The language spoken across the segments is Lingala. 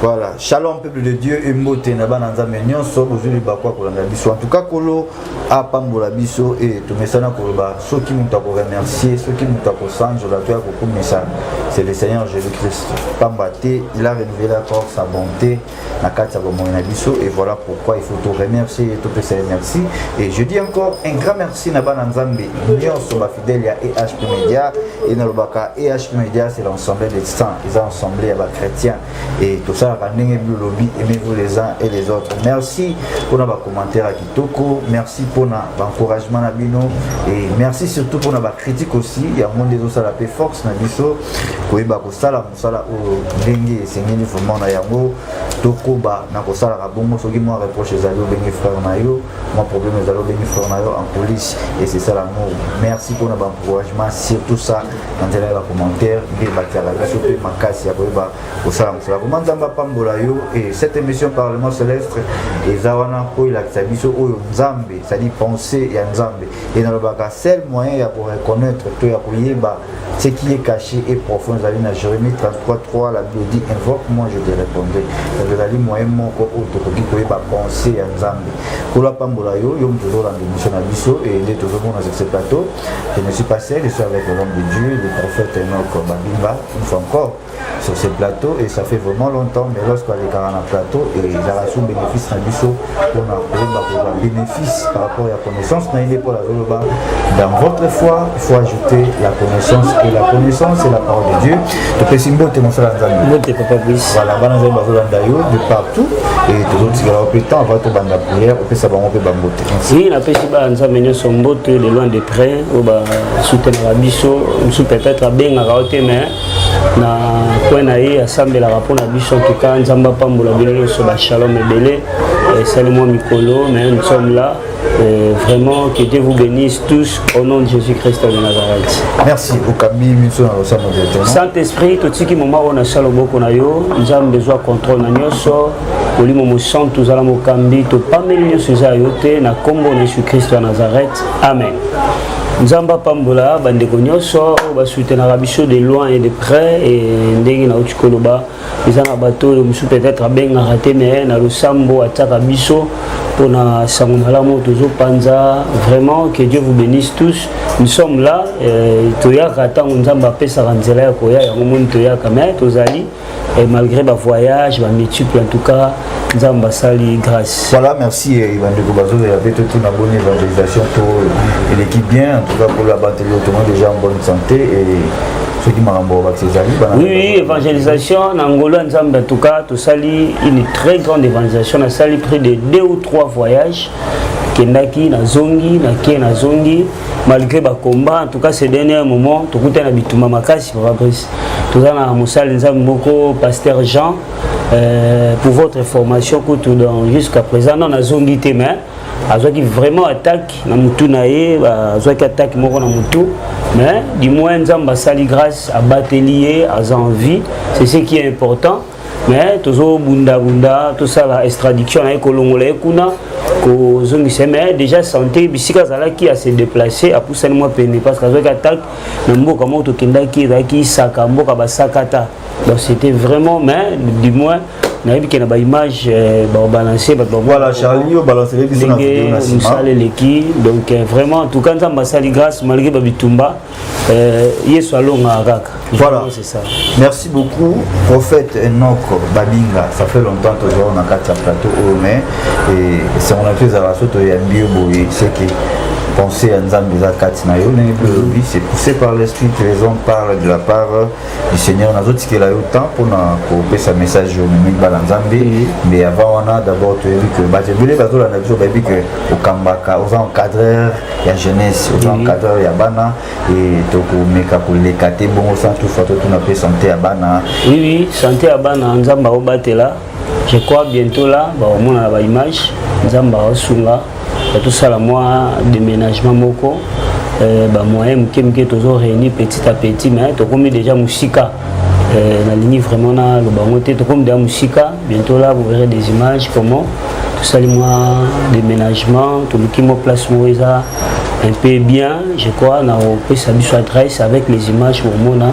voilà shalom peuple de dieu embote na bana nzambe nyonso bozwi libaku ya kolanda biso en tout cas kolo apambola biso e tomesana koloba soki moto akoremercier soki moto akosanzola to ya kokumisa c'est le seigneur jésus christ pamba te il a renouvelé encore sa bonté na kati ya bomoi na biso et voilà pourquoi il faut to remercier ye topesa ye merci et je dis encore un grand merci na bana nzambe nyonso bafidèle ya ehp média e nalobaka ehp média c'est l'ensemble des saints eza ensemble ya bachrétien et tosalaka ndenge biolobi aimez-vous les uns et les autres merci mpona bacommentaire ya kitoko merci mpona baencouragement na bino et merci surtout mpona bacritique aussi yango nde ezosala mpe force na biso koyeba kosala sala oyo ndenge esengeli vraiment na yango tokoba na kosalaka bongo soki mwa reproche ezali obengi frère na yo mwa problème ezali obengi frère na yo en police esesala yango merci mpona baencouragement surtout ça na nzela ya bacommentaire nde batyaka biso mpe makasi ya koyeba kosala mosala vraimen nzambe apambola yo e cette émission parlement célestre eza wana mpo elakisa biso oyo nzambe cestadi pensée ya nzambe e nalobaka seul moyen ya koreconnaitre to ya koyeba Ce qui est caché et profond, ezali na Jérémie 33.3, la Bible dit, invoque moi, je te répondrai. Donc ezali moyen moko oyo tokoki koyeba pensée ya Nzambe. Kolo apambola yo, yo moto ozolanda émission na biso, et nde tozomona sur ce plateau. Je ne suis pas seul, je suis avec l'homme de Dieu, le prophète Enoch Babimba, une fois encore. sur ce plateau et ça fait vraiment longtemps mais lorsque alekaka na plateau ezalaka sous bénéfice na biso mpona koyeba kozwa bénéfice par rapport ya connaissance na ye nde mpona azoloba dans votre foi il faut ajouter la connaissance et la connaissance et la parole de dieu topesi mbote mosala ya nzambe voilà bana nzambe bazolanda yo de partout et tozotikala yo mpe temps avant tobanda prière opesa bango mpe bambote oui napesi bana nzambe nyonso mbote de loin de près oyo basutenaka biso mosusu peut-être abengaka yo te mais na coin na ye asambelaka mpo na biso en tout cas nzambe apambola bino nyonso bashalom ebele esali mwa mikolo mais nous sommes là Euh, vraiment, que Dieu vous bénisse tous au nom de Jésus-Christ de Nazareth. Merci. Saint-Esprit, tout ce qui m'a on a salo boko na yo, nous avons besoin de contrôle na nyoso, olimo mo sang tous ala mo kambi, to pameli nyoso za yote na kombo na Jésus-Christ de Nazareth. Amen. nzambe apambola bandeko nyonso oyo basutenaka biso de loin et de près e ndenge nauti koloba eza na bato oyo mosusu peut-être abengaka te mais na losambo atiaka biso mpona sango malamu tozopanza vraiment que dieu vous bénisse tous nous sommes là euh, toyaka ntango nzambe apesaka nzela ya koya yango moni toyaka mais tozali Et malgré ba voyage, ba multiple en tout cas, Nzambe asali grâce. Voilà, merci bandeko bazoza ya pe tout na bonne évangelisation to eleki bien en tout cas pour la bantu tout monde déjà en bonne santé et ceux qui makambo ba ezali bana. Oui, évangélisation na Angola Nzambe en tout cas, tosali une très grande évangélisation, na sali près de deux ou trois voyages. Kendaki na zongi, na kie na zongi. malgré ba combat en tout cas ces derniers moments tokuta na bituma makasi papa Brice toza na mosali nzambe moko pasteur Jean euh, pour votre formation kutu dans jusqu'à présent non nazongi te mais azwaki vraiment attaque na mutu na ye azwaki attaque moko na mutu mais du moins nzambe asali grâce abateli ye aza en vie c'est ce qui est important mais tozobundabunda tosala extradiction na ye kolongola ye kuna kozongisa ye mais déjà santé bisika azalaki ase déplace apusani mwa pene parce que azwaki attaque na mboka moko tokendaki ezalaki isaka mboka basakata donc c'était vraiment mais du moins nayebi ke na baimage euh, babalance bato ndenge mosala eleki donc euh, vraiment en tout cas nzambe asali grâce malgré babitumba Euh, yesu alongaka kaka voilà c'est ça merci beaucoup prophète enok babinga ça fait longtemps tozwaka na kati ya plateau oyo oh, mais esango na biso ezalaka so toyambi yo boye seke pensée ya nzambe eza kati na yo ndenge mpe olobi c'est poussé par l'esprit que les hommes parlent de la part du seigneur nazotikela yo temps mpona kopesa message oyo omemi bana nzambe mais avant wana d'abord toyebi que bato ebele bazolanda biso bayebi que okambaka oza encadreur ya jeunesse oza encadreur ya bana e tokomeka koleka te bongo sans toufa totuna mpe santé ya bana oui oui santé ya bana nzambe akobatela je crois bientôt là bakomonana baimage nzambe akosunga Ya tosala mwa déménagement moko euh, ba moyen moke moke tozo réunir petit à petit mais tokomi déjà mosika euh, nalingi vraiment naloba yango te tokomi déjà mosika bientôt là vous verrez des images comment tosali mwa déménagement toluki mwa place moko eza un peu bien je crois na opesa biso adresse avec les images bomona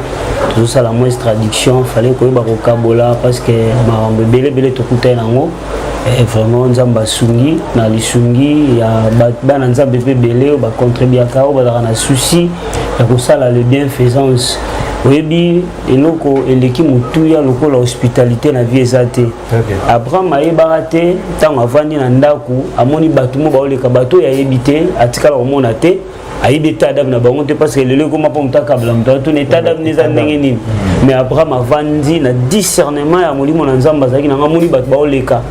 tozosala moins traduction fallait koyeba kokabola parce que makambo ebele ebele tokutani yango Eh, vraiment nzambe asungi na lisungi ya bana nzambe mpe ebele oyo bacontribuaka oyo bazalaka na souci ya kosala le bienfaisance oyebi eloko eleki motuya lokola hospitalité na vie eza te abraham ayebaka te ntango avandi na ndako amoni bato mo baoleka bato oyo ayebi te atikala komona te ayebi etat d'âme na bango te parce que lelo ekoma mpo moto akabla moto atuni etat d'âme na eza ndenge nini mais abraham avandi na discernement ya molimo na nzambe azalaki nanga amoni bato baoleka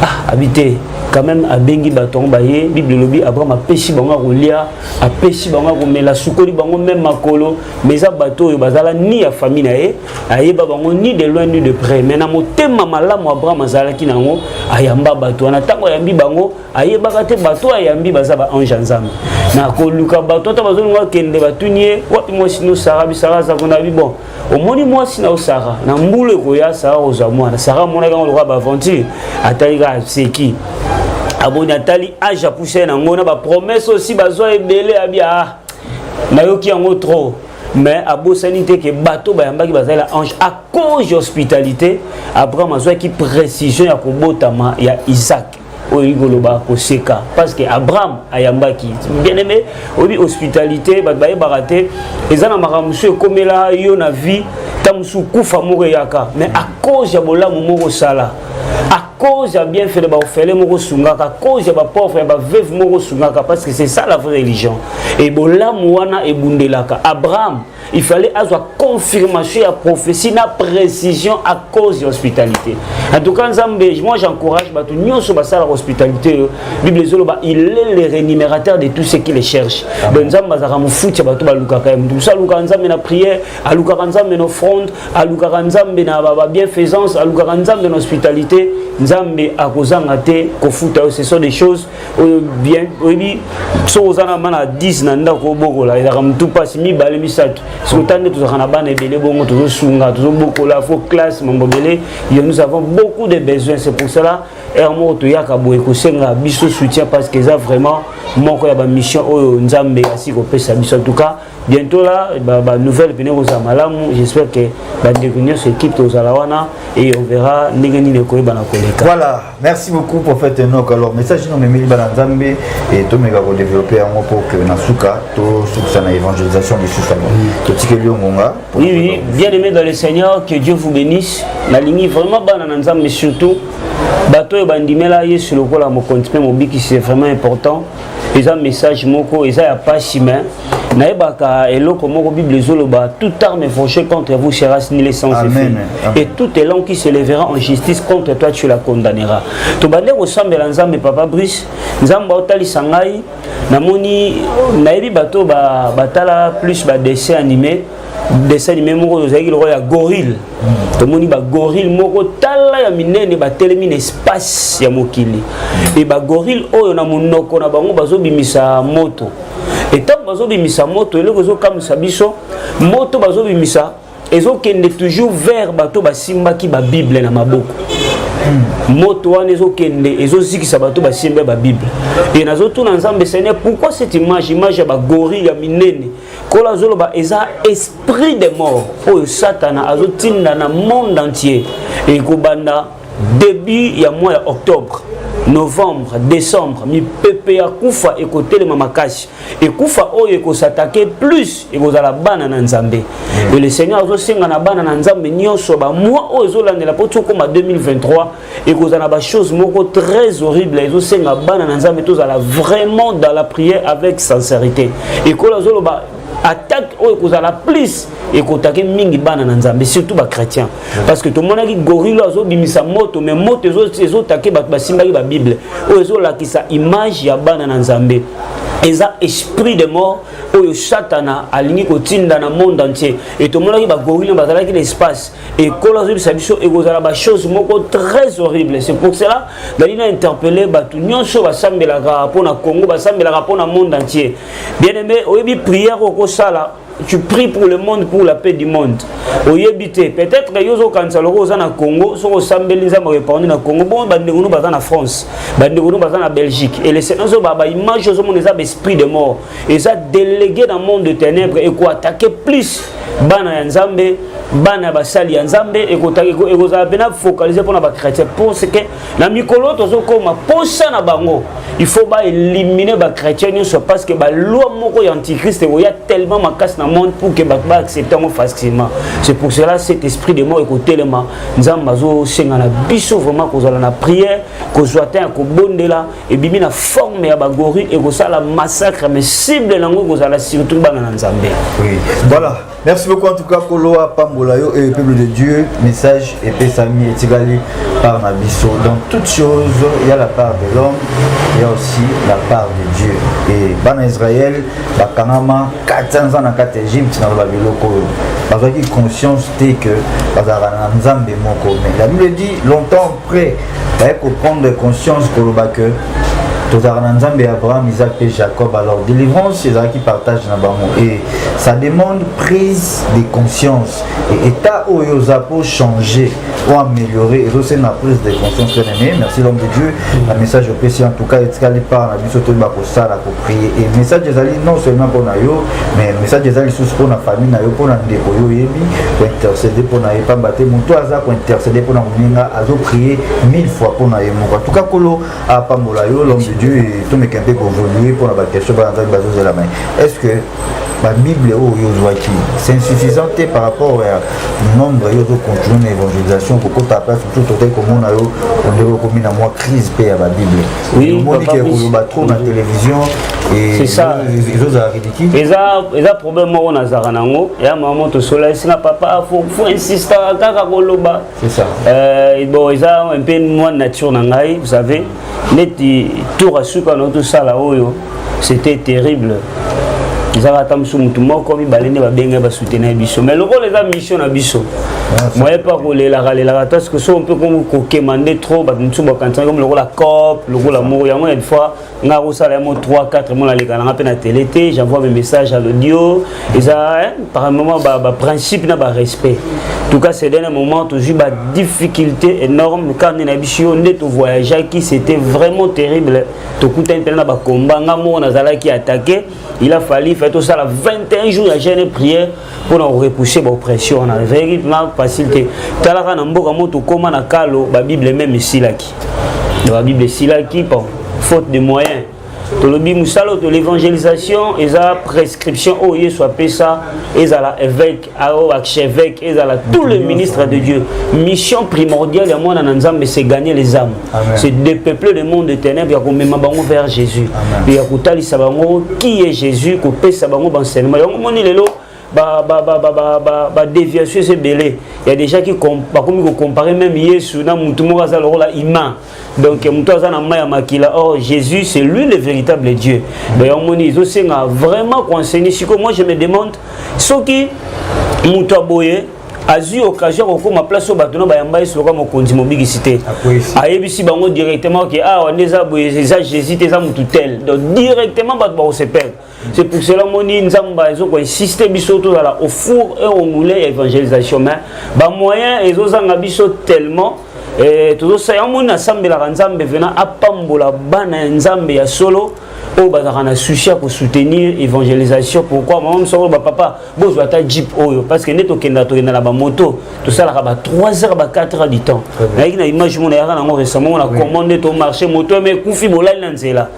ah abi te quand même abengi bato yango baye bible elobi abraham apesi bango ya kolia apesi bango ya komela asukoli bango meme makolo mais eza bato oyo bazala ni ya famille na ye ayeba bango ni de loin ni de près mais na motema malamu abraham azalaki na yango ayamba bato wana ntango ayambi bango ayebaka te bato ayambi baza ba ange ya nzambe na koluka bato ata bazolinga bakende batuni ye wapi mwasi no sara bisara aza kuna bi bon omoni mwasi na osara na mbula ekoya sara kozwa mwana sara amonaki yango lokola baaventure atali kaka aseki aboni atali age apusa ye na yango na bapromese osi bazwa ebele abi aa ah, nayoki yango trop mais abosani te ke bato bayambaki bazali na ange à cause ya hospitalité abraham azwaki précision ya kobotama ya isaac oyebi koloba koseka parce que abraham ayambaki bien aimé oyebi hospitalité bato bayebaka te eza na makambo mosusu ekomela yo na vie ta mosusu kufa moko eyaka mais à cause ya bolamu moko osala à cause ya bienfait na baofele moko osungaka à cause ya bapauvre ya baveuve moko osungaka parce que c'est ça la vraie religion e bolamu wana ebundelaka abraham il fallait azwa confirmation ya prophétie na précision à cause ya hospitalité en tout cas nzambe moi j'encourage bato nyonso basalaka hospitalité oyo bible ezoloba il est le rémunérateur de tout ce qui le cherche donc nzambe azalaka mofuti ya bato balukaka ye moto mosusu alukaka nzambe na prière alukaka nzambe na offrande alukaka nzambe na babienfaisance alukaka nzambe na hospitalité nzambe akozanga te kofuta yo ce sont des choses oyo bien oyebi soki oza na bana 10 na ndako obokola ezalaka motu mpasi mibale misato soki ota nde tozalaka na bana ebele bongo tozosunga tozobokola fo classe mambo ebele yo nous avons beaucoup de besoins c'est pour cela heure moko toyaka boye kosenga biso soutien parce que eza vraiment moko ya bamission oyo nzambe asi kopesa biso en tout cas bientôt là ba, ba nouvelle pene kozala malamu j'espère que bandeko nyonso équipe tozala wana et on verra ndenge nini ekoyebana koleka voilà merci beaucoup prophète enok alors message no memeli bana nzambe et tomeka kodéveloppe yango pour que na suka tosukisa na évangélisation lisusu yango totikeli yo ngonga oui oui bien aimé dans le seigneur que dieu vous bénisse nalingi vraiment bana na nzambe surtout bato oyo bandimela yesu lokola mokonzi mpe mobikisi c'est vraiment important eza message moko eza ya pasi mais nayebaka eloko moko bible ezoloba tout arme forgée contre vous sera nile sans effet et toute langue qui se lèvera en justice contre toi tu la condamnera tobande kosambela nzambe papa brice nzambe aotalisa ngai namoni nayebi bato batala ba plus badessin animé dessin anime moko tozalaki lokola ya gorille tomoni bagorille moko tala ya minene batelemi na espace ya mokili e bagorille oyo na monoko na bango bazobimisa moto e ntango bazobimisa moto eloko ezokamwisa biso moto bazobimisa ezokende toujours vers bato basimbaki babible na maboko moto wana ezokende ezozikisa bato basimba babible e nazotuna nzambe sene pourquoi cette image image ya bagorille ya minene nkolo azoloba eza esprit de mort oyo satana azotinda na monde entier ekobanda début ya mois ya octobre novembre décembre mipepe ya kufa ekotelema makasi ekufa oyo ekosatake plus ekozala bana na nzambe e le seigneur azosenga na bana na nzambe nyonso bamwa oyo ezolandela mpo tokoma 2023 ekozala na bachose moko très horrible ezosenga bana na nzambe tozala vraiment dans la prière avec sincérité ekola azoloba attaque oyo ekozala plus ekotake mingi bana na nzambe surtout bachrétien parce que tomonaki gorilo azobimisa moto mais moto ezotake bato basimbaki babible oyo ezolakisa image ya bana na nzambe eza esprit de mort oyo satana alingi kotinda na monde entier etomonaki bagorilo bazalaki na espace Et Kola Sabiso et Gozala, bah, chose moko très horrible. C'est pour cela, Dalina a interpellé, bah, tout nyon so, bah, sambe la pour na Congo, bah, sambe la pour na monde entier. Bien aimé, oyebi prière au Kosala, tu pries pour le monde, pour la paix du monde. Oyebi te, peut-être que yozo kansa loko oza na Congo, so ko sambe linza ma répondre na Congo, bon, bah, ndegono baza na France, bah, ndegono baza na Belgique. Et les sénats, bah, bah, image, ozo mon esprit de mort. eza delege na monde de ténèbres ekoatake plus bana ya nzambe bana ya basali ya nzambe ekozala mpena focalise mpona bachrétien parceke na mikolo tozokoma mposa na bango il faut baelimine bachrétien nyonso parce que baloi moko ya antichrist ekoya tellement makasi na monde pour que bato baaccepte yango facilement c'est pour cela cet esprit de mort ekotelema nzambe azosenga na biso vraiment kozala na prière kozwa temps ya kobondela ebimi na forme ya bagori ekosala massacre mais cible nango ekozala surtout bana na nzambe oui. voilà merci beaucoup en tout cas kolo apambola yo et le peuple de dieu message epesami etikali par na biso dans toute chose il y a la part de l'homme il y a aussi la part de dieu et bana israël bakangama 400 ans na kati ya egypte na loba biloko oyo bazwaki conscience te que bazalaka na nzambe moko mais la bible dit longtemps après baye koprendre conscience koloba que tozalaka na nzambe ya abraham isaac mpe jacob alors délivrance ezalaki partage na bango et ça demande prise de conscience et état oyo oza mpo changer ou améliorer ezosenga prise de conscience bien aimé merci l'homme de dieu na message opesi en tout cas etikali part na biso toyeba kosala et message ezali non seulement mpo na yo mais message eza lisusu mpo na famille na yo mpo na ndeko yo oyebi kointercede mpo na ye pamba te moto aza kointercede mpo na moninga azoprie mille fois mpo na ye moko en tout cas kolo apambola yo l'homme de dieu tomeka mpe kovolue mpo na baquestion bana nzambe bazozela mai est ce que babible oyo oh, ozwaki c'est insuffisant te par rapport ya nombre yo ozocontinue na évangélisation kokota place mosusu totali komona yo ondeko okomi na mwa crise mpe ya babible Oui, omoni ke koloba trop na télévision ezozala ridicule eza problème moko nazalaka nango ya mama tosola esinga papa fo insistaka kaka koloba euh, bon eza mpe mwa nature na ngai vous savez neti tour asuka na tosala oyo c'était terrible ezaka ata mosusu motu moko mibale nde babenge basoutenir biso mais lokola eza mission na biso ah, moye mpe akolelaka lelaka parce que so mpe kokema nde trop bato mosusu bakantisaki komi lokola cop lokola moko yango une fois ngai akosala yango 3 4 mona aleka nanga mpe na tele te j'envoie mes messages à l'audio eza par moment baprincipe na barespect tout cas c'est dernier moment tozwi badifficulté énorme kar nde na biso yo nde tovoyageaki c'était vraiment terrible tokutani mpena na bakomba nga moko nazalaki atake il a fallu fait tosala 21 jours ya jeune prière mpo na korepouse baoppression wana ezalaki mpena facile te talaka na mboka mo tokóma na kalo babible meme esilaki babible esilaki po faute de moyen tolobi mosala oyo to l'évangélisation eza prescription oyo yesu apesa ezala évêque ao archevêque ezala tout le ministre de dieu mission primordiale ya mwana na nzambe c'est gagner les âmes c'est dépeupler le monde de ténèbres ya komema bango vers jésus mpe ya kotalisa bango qui est jésus kopesa bango baenseignement yango moni lelo badéviation eza ebele ya déjà bakomi kocompare meme yesu na motu moko aza lokola ima donc moto aza na mai ya makila or oh, jésus c'est lui le véritable dieu donc yango moni ezosenga vraiment koenseigne sikoyo moi je me demande soki moto ya boye azwi occasion ya kokóma place oyo bato na bayamba yesu lokola mokonzi mobikisi te ayebisi bango directement ke awa ah, nde eza boye eza jésus te eza motu tel donc directement bato bakosepela C'est pour cela que je Nzamba ezo ko insister biso to la au four et au moulin évangélisation mais ba moyen ezo zanga biso tellement eh tozo sa yango na sambela Nzambe venant apambola bana Nzambe ya solo oyo bazalaka na souci ya kosoutenir évangélisation pourquoi mama mosakolo bapapa bozwa ata jeep oyo parce que nde tokenda tokenda na bamoto tosalaka ba 3 heures ba 4 heures du temps nayaki na image mona yaka nango récemment mona comment nde tomarche moto eme ekufi bolali na nzela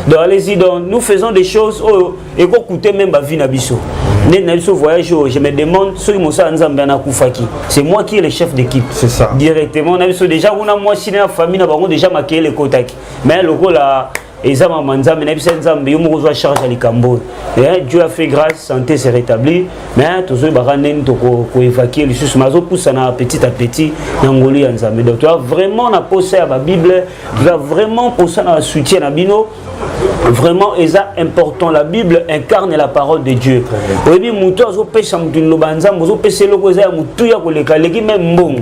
donc allez-y donc nous faisons des choses oyo ekocoute même bavie na biso nde na biso voyage oyo je me demande soki mosala nzambe ana akufaki c'est moi qui est le chef d'équipe directement na biso déjà kuna mwasi na famille na bango déjà makeyele ekotaki mais lokola eza mama nzambe na biso nzambe yo moko ozwa charge ya likambo oyo eh, dieu a fait grâce santé se rétabli mais tozoyebaka ndeni tokoevacue lisusu mais azopusana petit à petit na ngoli ya nzambe donc toza vraiment na posa ya babible toza vraiment posa na soutien na bino vraiment eza important la bible incarne la parole de dieu oyebi motu azopesa motu liloba ya nzambe ozopesa eloko eza ya motuya koleka aleki meme mbongo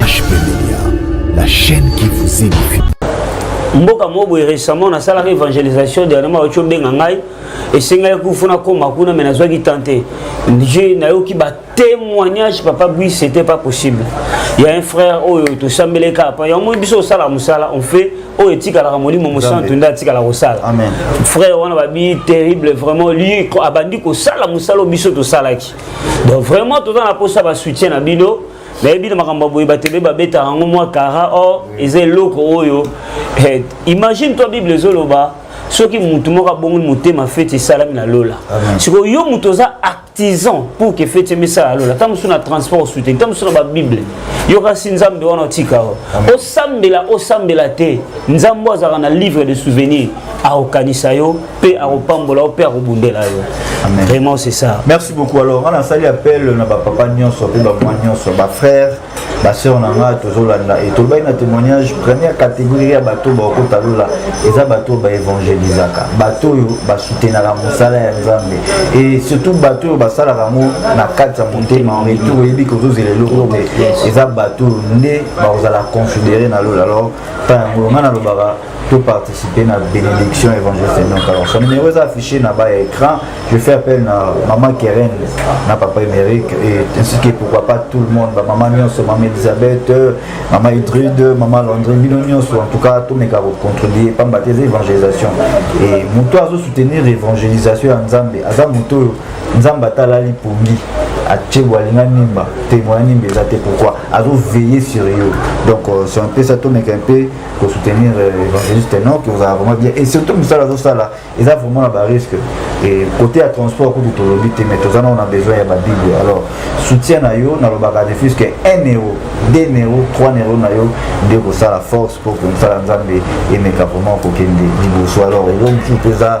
HP Media, la chaîne qui vous édifie. mboka moko boye récemment nasalaka évangélisation dernièrement auti obenga ngai esengaki kufu nakoma kuna me nazwaki temps te je nayoki batémoignage papa bui c'était pas possible ya un frère oyo tosambelaki kaka pa yango moni biso osalaka mosala on fait oyo etikalaka molimo mosantu nde atikala kosala frère wana babi terrible vraiment lui abandi kosala mosala oyo biso tosalaki donc vraiment toza na mposa basoutien na bino nayebi na makambo boye bato ebe babetaka yango mwa kara or eza eloko oyo eh, imagine toi bible ezoloba soki motu moko abongoli motema feti esalami na lola sikoyo yo moto oza artisan pour que feti emesala lola ntango mosusu na transport osute ntango mosusu na babible yokasi nzambe wana otika o osambela osambela te nzambe azalaka na livre de souvenir akokanisa yo mpe akopambola yo mpe akobundela yo vraiment c'est ça merci beaucoup alors nga nasali appel na bapapa nyonso mpe bamwa nyonso bafrère basœur na nga tozolanda e tolobaki na témoignage première catégorie ya bato oyo bakokota lola eza bato oyo baevangelisaka bato oyo basoutenaka mosala ya nzambe e surtout bato oyo basalaka yango na kati ya motema retour oyebi kozozela eloko te eza bato oyo nde bakozala confidere na lola alors ntango yango nga nalobaka to participer na bénédiction évangéliste non kaka son numéro eza affiché na bas ya écran je fais appel na maman keren na papa émérique et ainsi que pourquoi pas tout le monde bamama nyonso mama elisabeth mama idrude mama landrine bino nyonso en tout cas tomeka kocontribue pamba te eza évangélisation et moto azosoutenir évangélisation ya nzambe aza moto oyo nzambe atalali pongi atie boalinga nimba te moya nimba eza te pourquoi azoveille sur yo donc euh, c'est un peu ça tomeka un peu ko soutenir euh, évangéliste Enoch ozala vraiment bien et surtout mosala azosala eza vraiment na barisque et côté ya transport kutu tolobi te mais toza nao na besoin ya babible alors soutien na yo nalobaka de plus que 1 euro 2 euro 3 euro na yo nde kosala force mpo mosala nzambe emeka vraiment kokende liboso alors eloko mosusu mpe eza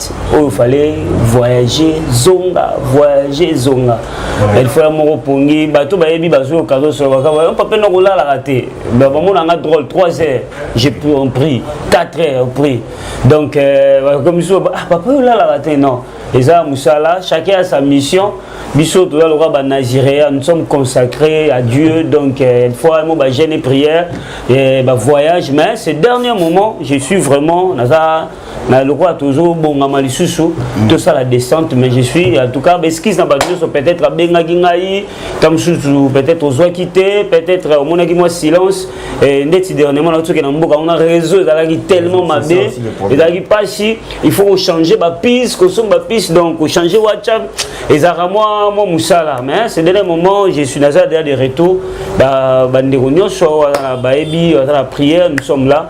oyo fale voyager zonga voyager zonga elifala moko pongi bato bayebi bazoyoka azosoloka papa na kolalaka te bamona nga drôle 3 heures je pris 4 heures pris donc euh, komisi ah, papa oyo olalaka te non eza mosala chacun a sa mission biso toza lokola banazirea nous sommes consacrés à dieu donc euh, une fois mo bagene prière bavoyage mais ce dernier moment je suis vraiment naza na lokola tozobongama lisusu mm. tosala descente mais je suis en tout cas baeskise na bato nyonso peut-être abengaki ngai ta mosusu peut-être ozwaki te peut-être omonaki mwa silence ndeti dernièrement naotoke na mboka wana réseau ezalaki tellement mabe ezalaki mpasi il faut kochange bapise kosomba bapise donc kochange whatsapp ezalaka mwa mwa mosala mais ce dernier moment je suis naza deja de retour bandeko nyonso bayebi baza na prière nous sommes là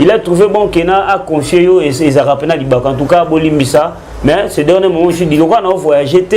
il a trouvé bon kena a confié yo ezalaka mpena libaka en tout cas bolimbisa mais ce dernier moment je dis lokola nao voyage te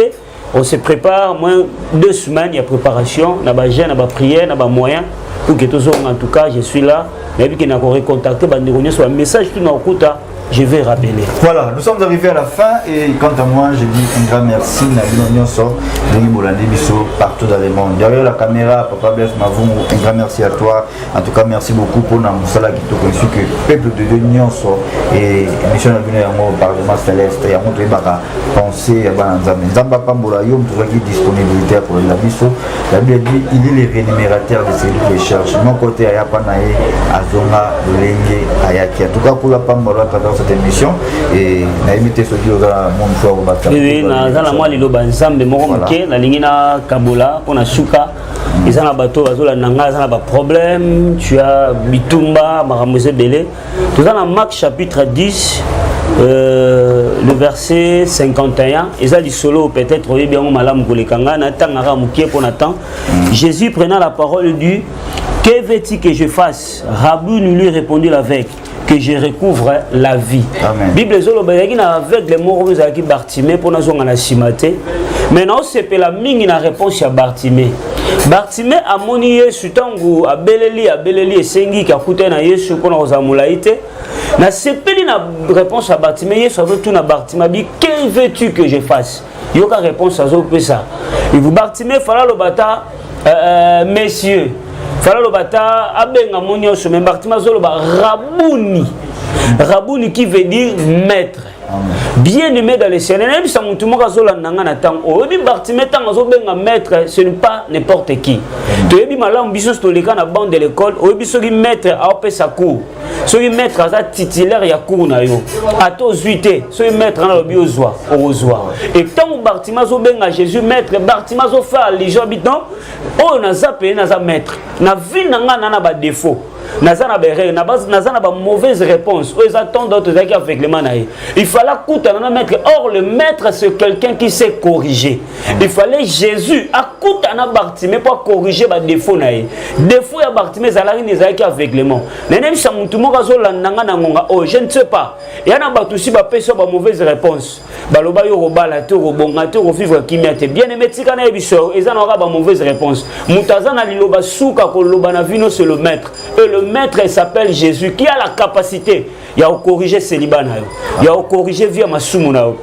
on se prépare moins deux semaines ya préparation na bagene na baprière na bamoyen pour que tozonga en tout cas je suis là nayebi ke nako recontacte bandeko nyonso bamessage tu nakokuta je vais rappeler. Voilà, nous sommes arrivés à la fin et quant à moi, je dis un grand merci à Bino Nyonso, Denis Bolandi Bisso, partout dans le monde. Derrière la caméra, Papa Bless Mavou, un grand merci à toi. En tout cas, merci beaucoup pour la moussala qui te conçu que peuple de Dieu nyonso et mission na bino yango parlement céleste yango toyebaka penser ya bana nzambe nzambe apambola yo moto ozwaki disponibilité ya kolela biso la bible dit il est le rémunérateur de celui qui cherche moko te ayapa na ye azonga lolenge ayaki en tout cas kula pambola tata cette émission et nayebi te soki oza mon fois obata naza na mwa liloba nzambe moko moke nalingi na kabola mpo na suka eza na bato bazolanda ngai aza na baproblème tu as bitumba makambo eza ebele toza na mark chapitre 10 euh, le verset 51 eza lisolo peut-être oyebi yango malamu koleka ngai natangaka mokie mpo na temps jésus prenant la parole du que veux-tu que je fasse rabbi nous lui répondit l'aveugle que je recouvre la vie Amen. bible ezoloba ezalaki na aveugle moko ezalaki bartime mpo nazonga na nsima te mai naosepela mingi na réponse ya bartime bartime amoni yesu ntango abeleli abeleli esengi kakutani na yesu mpo na kozala molai te nasepeli na réponse ya bartime yesu azotuna bartime abi que veux-tu que je fasse yoka réponse azopesa bartime fala aloba ata euh, euh, monsieur fala aloba ata abenga mo nyonso me bartime azoloba rabuni rabuni qui veut dire maître bien aimé dans le ciel nayebisa motu moko azolanda ngai na ntango oyebi bartime ntango azobenga maître ce n'est pas n'importe qui toyebi malamu biso nyonso toleka na bande de l'école oyebi soki maître aopesa cours soki maître aza titulaire ya cour na yo ata ozwi te soki maître na alobi ozwa okozwa e ntango bartima azobenga jésus maître bartima azofaa ligeon bi non oyo naza pene naza maître na vie na ngai na na badefaut naza na berere naza na bamauvaise réponse oyo eza temps d'autre ezalaki aveuglement na ye il fallait akutana na maître or le maître c'est quelqu'un qui s'est corrigé il fallait jésus akutana bartime mpo akorige badefo na ye defo ya bartime ezalaki nde ezalaki aveuglement nanebisa motu moko azolanda nga na ngonga oyo oh, je ne sais pas ya na bato si bapesi yo bamauvaise réponse baloba yo okobala te okobonga te okovivre kimia te bien aime tika na ye biso eza na kaka bamauvaise réponse moto aza na liloba suka koloba na vino c'est le maître et le maître s'appelle jésus qui a la capacité ya kokorige celiba na yo ya kokorige vie ya masumu na yo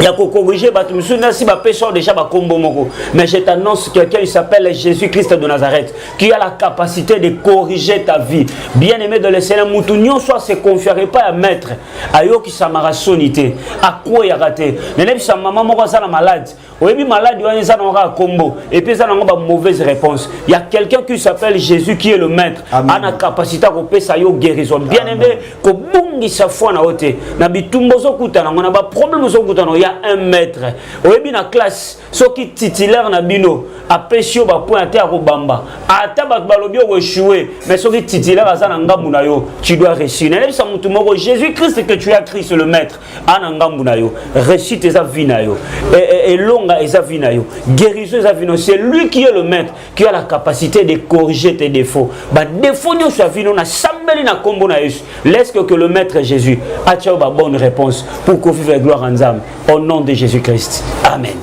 ya kokorige bato mosusu nasi bapesa yo déjà bakombo moko mais je t'annonce quelqu'un il s'appelle jésus christ de nazareth qui a la capacité de corriger ta vie bien aimé de lesena motu nyonso ase confiere epai ya maître ayokisamaka soni te akweyaka te nayebisa mama moko aza na malade oyebi maladi wana eza nango kaka kombo epuis eza nango ba mauvaise réponse ya quelqu'un qui s'appelle jésus qui est le maître ana capacité ya kopesa yo guérison bien aimé kobungisa foi na yo te na bitumba ozokutana yango na baproblème ozokutana yango ya un maître oyebi na classe soki titulaire na bino apesi yo bapoint ata ya kobamba ata bato balobi okoechue mais soki titulaire aza na ngambu na yo tu dois réussir nayebisa motu moko jésus christ que tu as christ le maître ana ngambu na yo réussite eza vie na yo elonga eza vie na yo guérison eza vie na yo c'est lui qui est le maître qui a la capacité de corriger tes défauts badéfaut nyonso ya vino nasambeli na nkombo na yesu leske que le maître jésus atya yo babonne réponse pour kovivre gloire ya nzambe au nom de jésus christ amen